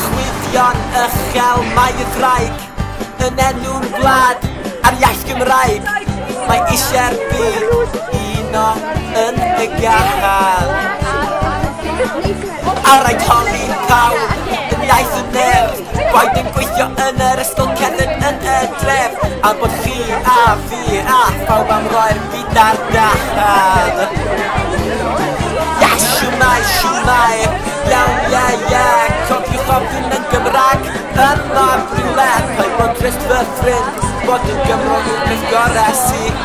Chwyddion uchel mae y graig Yn enw'r wlad a'r iaith Gymraeg Mae eisiau'r byd uno yn y gachar Ar rhaid holi pawb yn iaith y nerth Rhaid ein gweithio yn yr ysgol cerdded yn y dref Am bod chi a fi a phawb am roi'r byd ar dachar Ia, siwmai, siwmai, iawn, ie, ie Cofiwch ofyn yn Gymraeg yn mor rhywle Rhaid bod dres fy ffrind, bod yn Gymro yw'r peth gorau sy'n